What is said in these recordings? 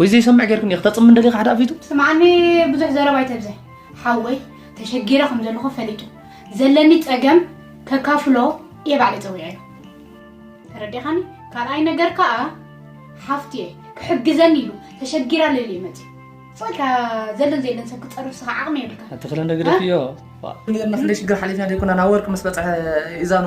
ወይ ዘይሰምዕ ጌርክን እየ ክተፅም እንደልየ ካሕዳ ኣፊቱ ስምዓኒ ብዙሕ ዘረባ ኣይተብዝሕ ሓወይ ተሸጊረ ከም ዘለኹ ፈሊጡ ዘለኒ ፀገም ከካፍሎ እየ ባዕለ ፀዊዐዮ ተረዲኻኒ ካልኣይ ነገር ከዓ ሓፍቲ እየ ክሕግዘኒ ኢሉ ተሸጊራ ልል ይመፅ ፅልካ ዘለን ዘየለን ሰብ ክፀርፍ ስኻ ዓቕሚ የብልካ ኣትኽለ እንደግደፍዮ ዋእ ኔርና ክንደይ ሽግር ሓሊፍና ደይኮናን ኣወርቂ ምስ በጽሐ ኢዛኑ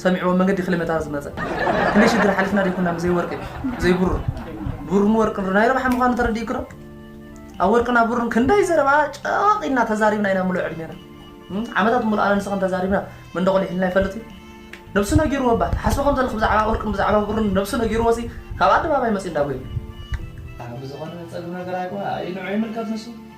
ሰሚዕዎ መንገዲ ክሊመታ ዝመጸ ክንደይ ሽግር ሓሊፍና ደይኮናን ብዘይ ወርቂ ብዘይ ብሩር ብሩርን ወርቅን ናይ ረብሓ ምዃኑ ተረዲእኪ ዶ ኣብ ወርቅና ብሩን ክንደይ ዘረባ ጨዋቕ ኢልና ተዛሪብና ኢና ምሉእ ዕድሜና እም፣ ዓመታት ምሉእ ኣነ ንስኽን ተዛሪብና መንደቑ ሊሒልና ይፈልጥ እዩ ነብሱ ነጊርዎ እባ ትሓስቦ ከም ዘለኺ ብዛዕባ ወርቅን ብዛዕባ ብሩን ነብሱ ነጊርዎ ሲ ካብ ኣደባባይ መጺኡ እንዳጎየ ብዝኾነ ጸግም ነገር ኣይኮ ኣይ ንዑ ይምልከት ንሱ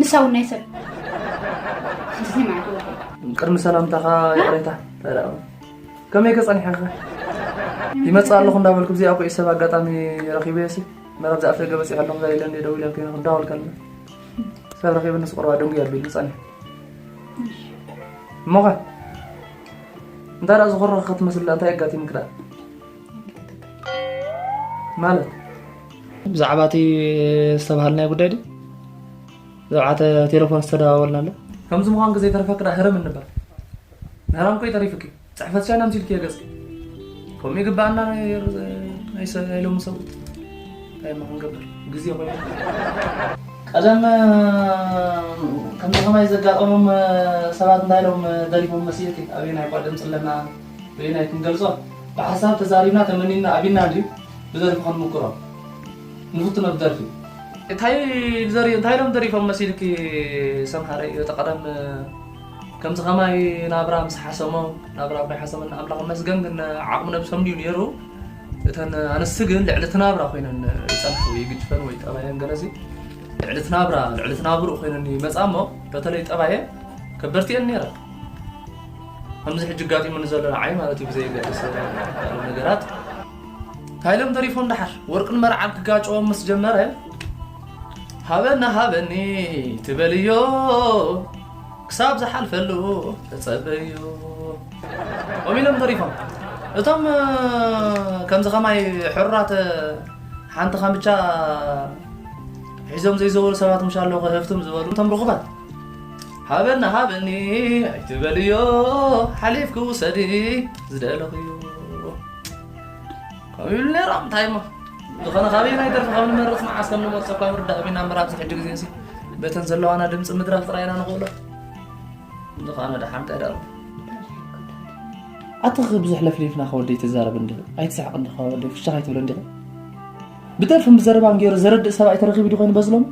ንሳውን ናይ ሰብ እዚ ማለት እዩ ቅድሚ ሰላምታኻ ይቕሬታ ተዳኡ ከመይ ከጸኒሐኸ ይመጽእ ኣለኹ እንዳበልኩ ብዘይ ኣቑዒ ሰብ ኣጋጣሚ ረኺበየሲ መረብ ዝኣፍደገ በፂሑ ኣለኹ ዛ ኢለ እንደ ደው ኢለ ኮይኑ ክዳወል ከለና ሰብ ረኺበ ንስ ቁርባ ደንጉ ኣቢሉ ዝጸኒሐ እሞኸ እንታይ ደኣ ዝኾረኸ ክትመስል እንታይ ኣጋጢሙክ ደኣ ማለት ብዛዕባ እቲ ዝተባሃልናዮ ጉዳይ ድዩ ብዛዕባ ቴሌፎን ዝተደዋወልና ኣሎ ከምዚ ምዃንኪ ዘይተረፈኪ ደኣ ህርም እንበር ምህራም ኮይ ተሪፍኪ ፅሕፈት ሻይና ምሲልኪ እየ ገፅኪ ከምኡ ይግባኣና ናይ ሎሚ ሰብ እንታይ ማ ክንገብር ግዜ ኮይኑ ቀደም ከምዚ ከማይ ዘጋጠሞም ሰባት እንታይ ኢሎም ደሪፎም መስየቲ ኣበየናይ እኳ ድምፂ ኣለና በየናይ ክንገልፆ ብሓሳብ ተዛሪብና ተመኒና ኣቢና እንድዩ ብደርፊ ክንምቅሮ ንፍትኖ ብደርፊ። እንታይ ዘሪ እንታይ ኢሎም ደሪፎም መሲልኪ ሰምሃረይ እቲ ቀደም ከምዚ ከማይ ናብራ ምስ ሓሰሞ ናብራ እኳ ሓሰመን ኣምላኽ መስገን ግን ዓቕሚ ነብሶም ድዩ ነይሩ እተን ኣንስቲ ግን ልዕሊ እቲ ናብራ ኮይነን ይጸንሑ ይግጭፈን ወይ ጠባየን ገለሲ ልዕሊ እቲ ናብራ ልዕሊ እቲ ናብርኡ ኮይነን ይመጻ እሞ በተለይ ጠባየ ከበርቲየን ነይረ ከምዚ ሕጂ ጋጢሙ ንዘሎ ንዓይ ማለት እዩ ብዘየገድስ ነገራት ታይሎም ተሪፎም ደሓር ወርቅን መርዓን ክጋጨዎም ምስ ጀመረ ሃበና ሃበኒ ትበልዮ ክሳብ ዝሓልፈሉ ተፀበዮ ኦም ኢሎም ተሪፎም እቶም ከምዚ ከማይ ሕሩራት ሓንቲ ከምቻ ሒዞም ዘይዘወሩ ሰባት ምሻ ኣለኹ ህፍትም ዝበሉ እቶም ርኹባት ሃበና ሃበኒ ኣይትበልዮ ሓሊፍ ክውሰዲ ዝደለኽዮ ከምኡ ይብሉ ነይሮም እንታይ እሞ ዝኾነ ካበይ ናይ ደርፊ ካብ ንመርፅ መዓስ ከም ንመርፆ እኳ ምርዳእ ቢና እምበር ኣብዚ ሕጂ ግዜ እሲ በተን ዘለዋና ድምፂ ምድራፍ ጥራይ ኢና ንኽእሎ ዝኾነ ደሓን ቀደርኩ ኣትኽ ብዙሕ ለፍሊፍና ከወደይ ትዛረብ እንዲኹ ኣይትስሕቕ እንዲኹ ከወደይ ፍሻኽ ኣይትብሎ እንዲኹ ብደርፍን ብዘረባን ገይሩ ዘረድእ ሰብኣይ ተረኺቡ ዲ ኮይኑ በዝሎም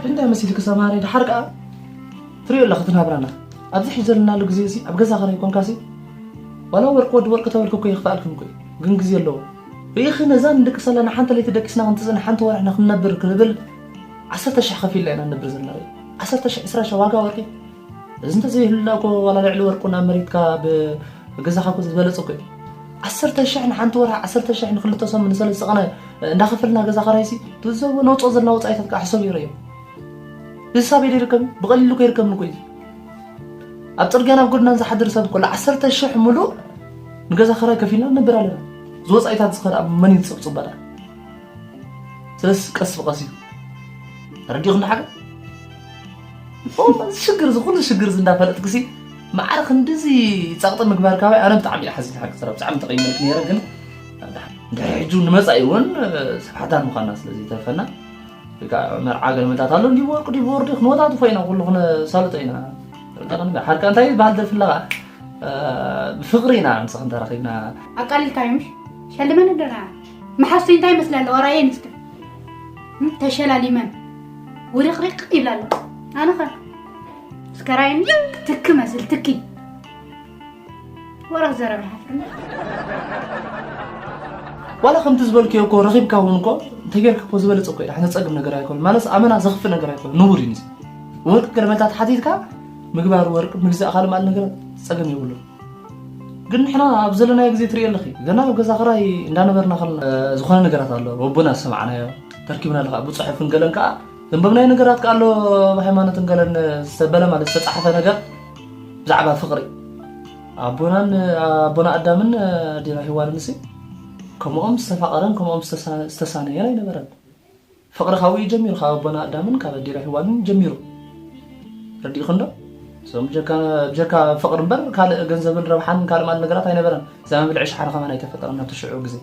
እንታይ መሲልኪ ሰማሪ ድሓር ከኣ ትሪኦ ኣለኺ እቲ ናብራና ኣብዚ ሕጂ ዘለናሉ ግዜ እዚ ኣብ ገዛ ከረይ ኮንካሲ ዋላ ወርቂ ወዲ ወርቂ ተበልኩ እኮ ይኽፍኣልኩም እኮ ግን ግዜ ኣለዎ ርኢኺ ነዛ ንድቅስ ኣለና ሓንቲ ለይቲ ደቂስና ክንትፅን ሓንቲ ወርሕና ክንነብር ክንብል ዓሰርተ ሽሕ ከፊልና ኢና ንነብር ዘለና ዓሰርተ ሽሕ ዕስራ ሽሕ ዋጋ ወርቂ እዚ እንተዘይህሉና እኮ ዋላ ልዕሊ ወርቁ ናብ መሬት ካብ ገዛኻ እኮ ዝበለፀ እኮ እዩ ዓሰርተ ሽሕ ንሓንቲ ወርሒ ዓሰርተ ሽሕ ንክልተ ሰሙን ንሰለስተ ቀነ እንዳኸፈልና ገዛ ኸራይሲ ትዘቦ ነውፅኦ ዘለና ወፃኢታት ከዓ ሕሰብ ይረዮ እዚ ሳብ ኢደ ይርከብ ብቐሊሉ እኮ ይርከብን እኮ እዩ ኣብ ፅርግያ ናብ ጎድናን ዝሓድር ሰብ ኮሎ ዓሰርተ ሽሕ ሙሉእ ንገዛ ኸራይ ከፊልና ንነብር ኣለና እዚ ወፃኢታት ዝኸ ኣብ መን እዩ ዝፅብፅብ በላ ስለዚ ቀስ ብቐስ እዩ ረዲኹም ንሓገር እዚ ሽግር እዚ ኩሉ ሽግር እዚ እንዳፈለጥክሲ ማዕረ ክንድዚ ጸቕጢ ምግባር ካብ ኣነ ብጣዕሚ እዩ ሓዚነ ሓቂ ሰራ ብጣዕሚ ተቐይመልክ ነይረ ግን ድሕሪ ሕጁ ንመጻኢ እውን ሰብ ሓዳር ምዃና ስለ ዘይተርፈና መርዓ ገልመታት ኣሎ እንዲ ወርቁ ዲብ ወርዲ ክንወታትፎ ኢና ኩሉ ክነሳልጦ ኢና ሓርካ እንታይ ዝበሃል ደርፊ ኣለኻ ብፍቕሪ ኢና ምስ ክንተራኺብና ኣቃሊልካዮም ሸልመን ኣለና መሓዝተይ እንታይ ይመስላ ኣለዋ ራእየን እስከ ተሸላሊመን ውሪቕሪቕ ይብላ ኣለዋ ኣነ ኸ እስከ ራእየን ትክ መስል ትኪ ወረኽ ዘረብ ይሓፍርኒ ዋላ ከምቲ ዝበልክዮ እኮ ረኺብካ እውን እኮ እንተጌርካ እኮ ዝበለፀ እኮ ኢኻ ነፀግም ነገር ኣይኮነ ማለት ኣመና ዘኽፍእ ነገር ኣይኮነ ንቡር እዩ ንዚ ወርቂ ገለመልታት ሓቲትካ ምግባር ወርቂ ምግዛእ ካልእ ማለት ነገር ፀገም የብሉን ግን ንሕና ኣብ ዘለናዮ ግዜ ትሪኢ ኣለኺ ገና ኣብ ገዛ ክራይ እንዳነበርና ከለና ዝኾነ ነገራት ኣሎ ወቦና ዝሰማዕናዮ ተርኪብና ኣሎ ከዓ ብፅሑፍን ገለን ከዓ ዘንበብናዮ ነገራት ከዓ ኣሎ ብሃይማኖትን ገለን ዝተበለ ማለት ዝተፃሕፈ ነገር ብዛዕባ ፍቅሪ ኣቦናን ኣቦና ኣዳምን ኣዴና ሂዋንን ሲ ከምኦም ዝተፋቀረን ከምኦም ዝተሳነየን ኣይነበረን ፍቅሪ ካብኡ እዩ ጀሚሩ ካብ ኣቦና ኣዳምን ካብ ኣዴና ሂዋንን ጀሚሩ ረዲእክን ዶ እዞም ብጀካ ፍቅሪ እምበር ካልእ ገንዘብን ረብሓን ካልእ ማለት ነገራት ኣይነበረን እዛ መብልዒ ሸሓነ ከማን ኣይተፈጠረን ናብቲ ሽዑ ግዜ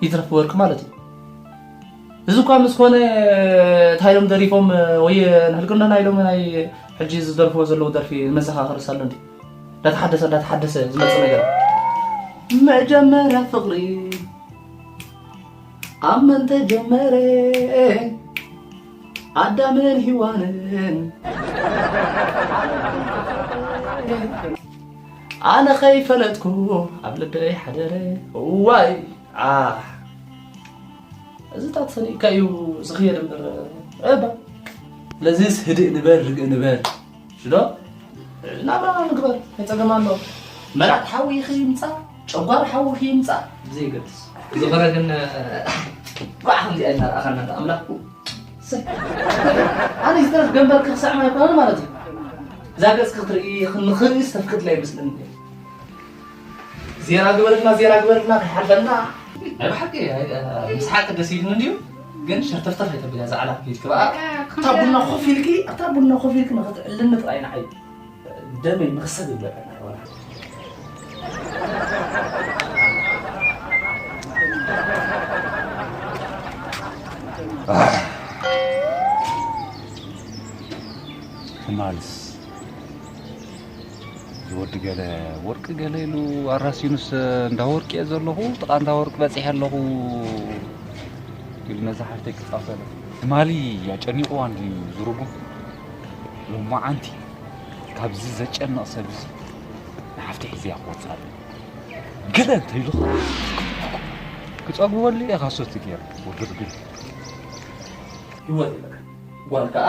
ይትረፍ ወርቂ ማለት እዩ እዚ እኳ ምስ ኮነ እንታይ ኢሎም ደሪፎም ወይ ንሕልቅንዶና ኢሎም ናይ ሕጂ ዝደርፍዎ ዘለዉ ደርፊ መዘኻኸሪ ሳሎ እንዲ እንዳተሓደሰ እንዳተሓደሰ ዝመፅእ ነገር መጀመርያ ፍቅሪ ኣብ መን ተጀመረ ኣዳምን ሂዋንን ኣነ ከይፈለጥኩ ኣብ ልበይ ሓደረ እዋይ እዚታት ሰኒእካ እዩ ዝኽየድ እምበር እባ ስለዚስ ህድእ ንበል ርግእ ንበል ሽዶ ናብራ ንግበር ከፀገም ኣሎ መራቅ ሓዊ ኢኺ ይምፃእ ጨጓር ሓዊ ኢኺ ይምፃእ ብዘይገድስ ዝኸረ ግን ጓዕ ከምዚኣ ኢልና ረኣኸና ዶ ኣምላኽ ኣነ ዝተረፍ ገንበርኪ ክስዕም ኣይኮነን ማለት እዩ እዛ ገፅኪ ክትርኢ ንክርኢ ዝተፍቅድላ ይመስለኒ ዜና ግበርልና ዜና ግበርልና ከይሓልፈና ናይ ብሓቂ ምስሓቂ ደስ ኢሉኒ እንድዩ ግን ሸርተፍተፍ ኣይተብላ እዛ ዓላ ፊልክ በኣ እታ ቡና ኮፍ ኢልኪ እታ ቡና ኮፍ ኢልኪ ንክትዕልኒ ጥራይ ንዓይ ደመይ ንክሰብ ይብለካ ማልስ ዝወዲ ገለ ወርቂ ገለ ኢሉ ኣራሲኑስ እንዳ ወርቂ እየ ዘለኹ ጥቓ እንዳ ወርቂ በፂሐ ኣለኹ ኢሉ ነዛ ሓፍተይ ክፃወት ኣሎ ትማሊ ኣጨኒቑዋ እንድዩ ዝርጉም ሎማዓንቲ ካብዚ ዘጨንቕ ሰብ እዚ ንሓፍተይ ሒዘያ ክወፅእ ኣለኒ ገለ እንተይሉ ክፀግበሉ እየ ካሶቲ ገይረ ወዲ ርግም ህይወት ጓል ከዓ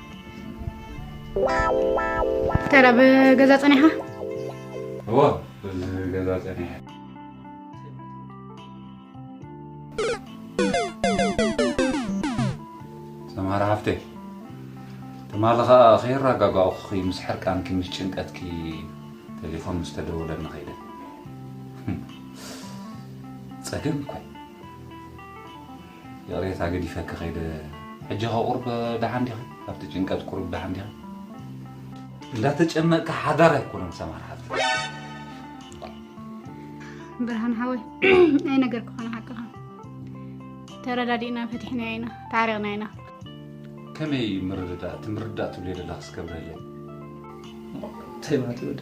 ዶክተር ኣብ ገዛ ፀኒሓ እዎ እዚ ገዛ ፀኒሐ ሰምሃር ሃፍተይ ትማሊ ከዓ ከይረጋጋእኹኺ ምስ ሕርቃንኪ ምስ ጭንቀትኪ ቴሌፎን ምስ ተደወለኒ ከይደ ፀገም እኮ እዩ። ይቕሬታ ገዲፈኪ ከይደ ሕጂ ከ ቁርብ ደሓን ዲኺ ካብቲ ጭንቀት ቁሩብ ደሓን ዲኺ? እንዳተጨነቅካ ሓዳር ኣይኮነን ሰማር ሓፍተይ ብርሃን ሓወይ ናይ ነገር ክኾነ ሓቅኻ ተረዳዲእና ፈቲሕናዮ ኢና ተዓሪቕና ኢና ከመይ ምርድዳእ እቲ ምርዳእ ትብልዮ ዘለኽስ ከብረለይ ተይ ማቲ ወደ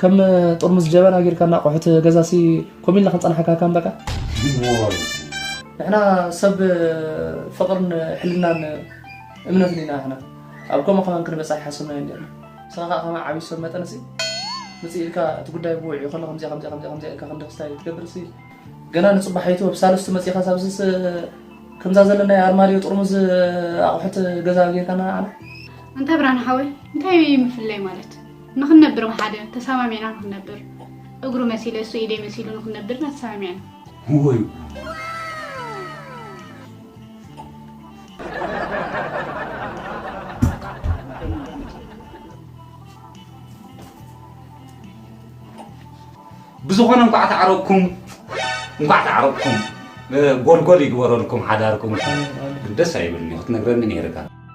ከም ጥርሙዝ ጀበና ጌርካ ናቆሑት ገዛሲ ኮም ኢልና ክንጸናሓካ ካም በቃ ንሕና ሰብ ፍቕርን ሕልናን እምነትን ኢና ንሕና ኣብ ከምኡ ከማን ክንበፅሕ ሓሰብናዮ ነርና ንስኻ ከዓ ከማ ዓብዪ ሰብ መጠን ሲ ምፅእ ኢልካ እቲ ጉዳይ ብውዕ ይኸሎ ከምዚኣ ከምዚኣ ከምዚኣ ከምዚኣ ኢልካ ክንዲ ክስታይ ትገብር ሲ ገና ንፅባሒቱ ኣብ ሳልስቱ መፂእኻ ሳብዝስ ከምዛ ዘለና ኣርማድዮ ጥርሙዝ ኣቑሑት ገዛ ጌርካና ንዓና እንታይ ብርሃን ሓወይ እንታይ ምፍለይ ማለት ንክንነብር ብሓደ ተሳማሚዕና ንክንነብር እግሩ መሲለ እሱ ኢደይ መሲሉ ንክንነብር ኢና ተሳማሚዕና። ወይ ብዝኾነ እንኳዕ ተዓረኩም እንኳዕ ተዓረኩም ጎልጎል ይግበረልኩም ሓዳርኩም ደስ ኣይብልኒ ክትነግረኒ ነይርካ